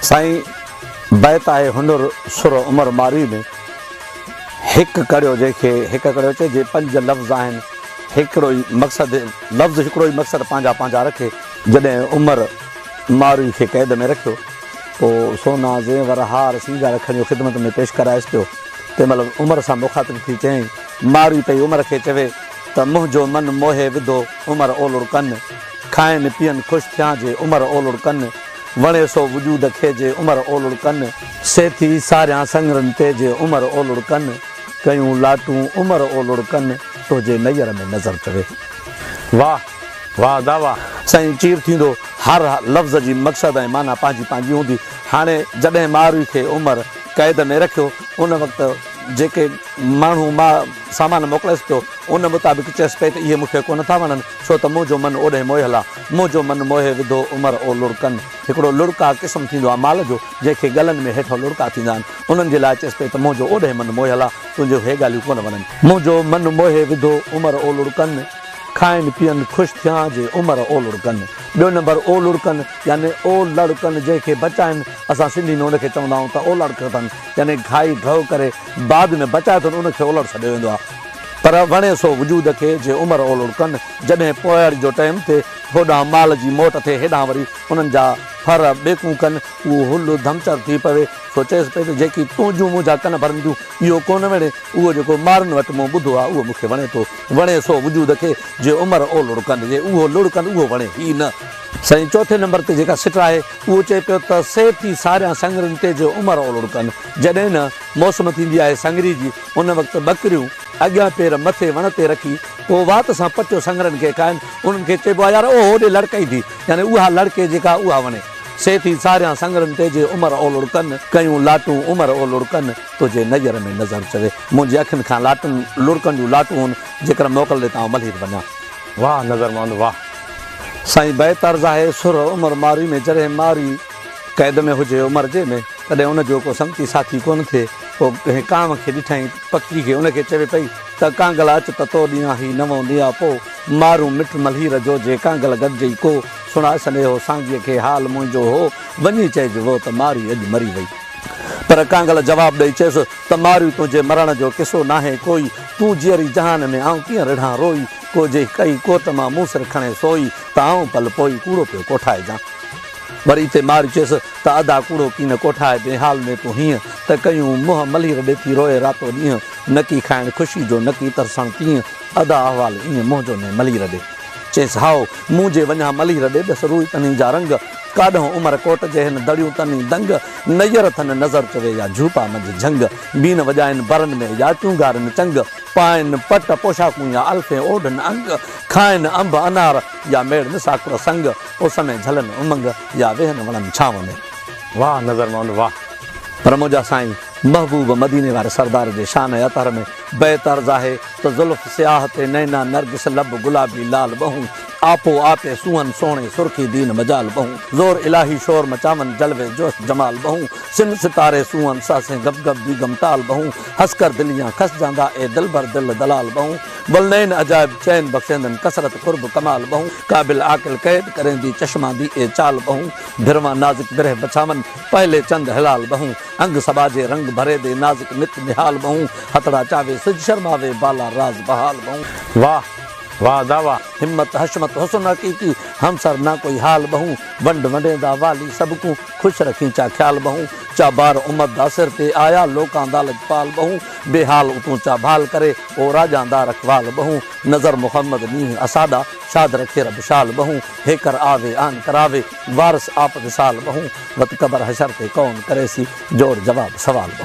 سائين بيت آهي هنر سر عمر مارئي ۾، هڪ ڪڙيو جنهن کي هڪ ڪڙيو چئي، جي پنج لفظ آهن هڪڙو ئي مقصد، لفظ هڪڙو ئي مقصد پنهنجا پنهنجا رکي، جڏهن عمر مارئي کي قيد ۾ رکيو، پوء سونا، زيور، هار، سينگار کڻي اهو خدمت ۾ پيش ڪرائيس پيو، تنهن مهل عمر سان مخاطب ٿي چيائين، مارئي پئي عمر کي چوي ته منهنجو من موهي وڌو عمر اولڙ ڪن، کائين پيئن خوش ٿيان جي عمر اولڙ ڪن. وڻي سو وجود کي جي عمر اولڙ ڪن. سي ٿي ساريان سڱرن تي جي عمر اولڙ ڪن. ڪيون لاٽون عمر اولڙ ڪن تو جي نير ۾ نظر چوي. واھ واھ دا واھ. سائين چير ٿيندو هر لفظ جي مقصد ۽ معنيٰ پنهنجي پنهنجي هوندي هاڻي جڏهن ماروي کي عمر قيد ۾ رکيو ان وقت جيڪي ماڻهو ماء سامان موڪليس پيو ان مطابق چيس پئي ته اهي مون کي ڪونه ٿا وڻن ڇو ته منهنجو من اوڏهين موهيل آ منهنجو من موهي وڌو عمر او لڙڪن. هڪڙو لڙڪا قسم ٿيندو آ مال جو، جنهن کي ڳلن ۾ هيٺئون لڙڪا ٿيندا آهن. انهن جي لاء چيس پئي ته منهنجو اوڏهين من موهيل آ، تنهنجون هي ڳالهيون ڪونه وڻن. منهنجو من موهي وڌو عمر او لڙڪن. کائين پيئن خوش ٿيان جي عمر او لڙڪن. ٻيو نمبر او لڙڪن يعني او لڙڪن جنهن کي بچائن، اسان سنڌي ۾ ان کي چوندا آهيون ته اولڙڪ اٿن يعني گهائي گهئو ڪري بعد ۾ بچائي اٿن ان کي اولڙ سڏيو ويندو آ. پر وڻي سو وجود کي، جي عمر اولڙ ڪن. جڏهن پوئياڙي جو ٽئيم ٿئي، هوڏانهن مال جي موٽ ٿئي، هيڏانهن وري انهن جا ڦر ٻيڪون ڪن، اهو هل ڌمچر ٿي پوي. سو چيس پئي ته جيڪي تنهنجون منهنجا ڪن ڀرنديون، اهو ڪونه وڻي. اهو جيڪو مارن وٽ مون ٻڌو آهي، اهو مون کي وڻي ٿو. وڻي سو وجود کي، جي عمر اولڙ ڪن. جي اهو لڙ ڪن، اهو وڻي ئي نه. سائين چوٿين نمبر تي جيڪا سٽ آهي، اهو چئي پيو ته سي ٿي ساريان سڱرين تي، جي عمر اولڙ ڪن. جڏهن نه. موسم ٿيندي آهي سنگري جي، ان وقت ٻڪريون اڳيان پير مٿي وڻ تي رکي، پوء وات سان پٽيو سنگرن کي کائن، انهن کي چئبو آهي يار او هوڏي لڙڪين ٿي، يعني اها لڙڪي جيڪا اها وڻي. سي ٿي ساريان سنگرن تي جي عمر اولڙ ڪن، ڪيون لاٽون عمر اولڙ ڪن، تنهنجي نير ۾ نظر چوي، منهنجي اکين کان لاٽن لڙڪن جون لاٽون هن، جيڪر موڪل ڏي ته آئون ملهير بنيان. واهه نظرمند واهه. سائين بيت عرض آهي سرهه عمر ماري ۾ جڏهن ماري. قيد ۾ هجي عمر جي ۾ تڏهن ان جو ڪو سنگتي ساٿي ڪونه ٿئي. پوء ڪنهن ڪانء کي ڏٺائين، پکي کي، ان کي چوي پئي ته ڪانگل اچ ته تو ڏيان هي نوئون ڏيان پو مارون مٺ ملهير جو جي ڪانگل گڏجئي ڪو سڻاء سنيهو سانگيء کي حال منهنجو هو وڃي چئج وو ته ماري اڄ مري وئي. پر ڪانگل جواب ڏئي چيس ته ماري تنهنجي مرڻ جو قصو ناهي ڪوئي تون جيئري جهان ۾ آئون ڪيئن رڙهان روئي ڪو جي ڪئي ڪوت مان مون سر کڻي سوئي ته آئون پل پوئي ڪوڙو پيو ڪوٺائجان. وري تي ماري چيس ته ادا ڪوڙو ڪين ڪوٺائي بي حال ۾ تون هينئن ته ڪيون منهن ملهير ڏيٿي روئي راتو ڏينهن نڪي کائڻ خوشي جو نڪي ترسڻ پينهن ادا احوال ايئن منهنجو ني ملهير ڏي چيس هائو مون جي وڃان ملهير ڏي ڏس روئي تني جا رنگ ڪاڏهون عمر ڪوٽ جي هن دڙيون تني دنگ نيئر ٿن نظر چوي يا جهوپا منجهه جهنگ بين وڄائين برن ۾ يا چونگارين چنگ پائين پٽ پوشاڪون يا الفين اوڍن انگ کائين انب انار يا ميڙ نه ساڪڙو سنگ، اس ۾ جهلن امنگ، يا ويهن وڻن ڇانو ۾. واهه نظر مئن واهه. پر منهنجا سائين محبوب مديني واري سردار جي شان ۽ اطهر ۾ بيت عرض آهي ته زلف سياهه تي نينا نرگس لب گلابي لال ٻهون آپو آپي سونهن سهڻي سرخي دين مجال ٻهون زور الاهي شور مچاون جلوي جوش جمال ٻهون سن ستاري سونهن سهسين گب گب بيگم ٽال ٻهون هسڪر دليان کس جاندا اي دلبر دل دلال ٻهون گل نئين عجائب چين بخشيندن ڪثرت قرب ڪمال ٻهون قابل عاقل قيد ڪريندي چشما دي اي چال ٻهون برهما نازڪ برهه بڇاون پهلي چند هلال ٻهون انگ سٻاجهي رنگ ڀري دي نازڪ نت نهال ٻهون هٿڙا چاوي سج شرماوي بالا راز بحال ٻهون. واھ واھ ادا واھ همت حشمت حسن حقيقي همسر نه ڪوئي حال ٻهون ونڊ ونڊيندا والي سڀ ڪون خوش رکين چا خيال ٻهون چا بار امت دا سر تي آيا لوڪان دا لڄپال ٻهون بي حال اتون چا ڀال ڪري او راڄان دار اقبال ٻهون، نظر محمد ڏينهن اساڏا، شاد رکي رب شال ٻهون، هيڪر آوي آن ڪراوي، وارث آپ وصال ٻهون، وت قبر حشر تي ڪون ڪريسي، جوڙ جواب سوال ٻهون.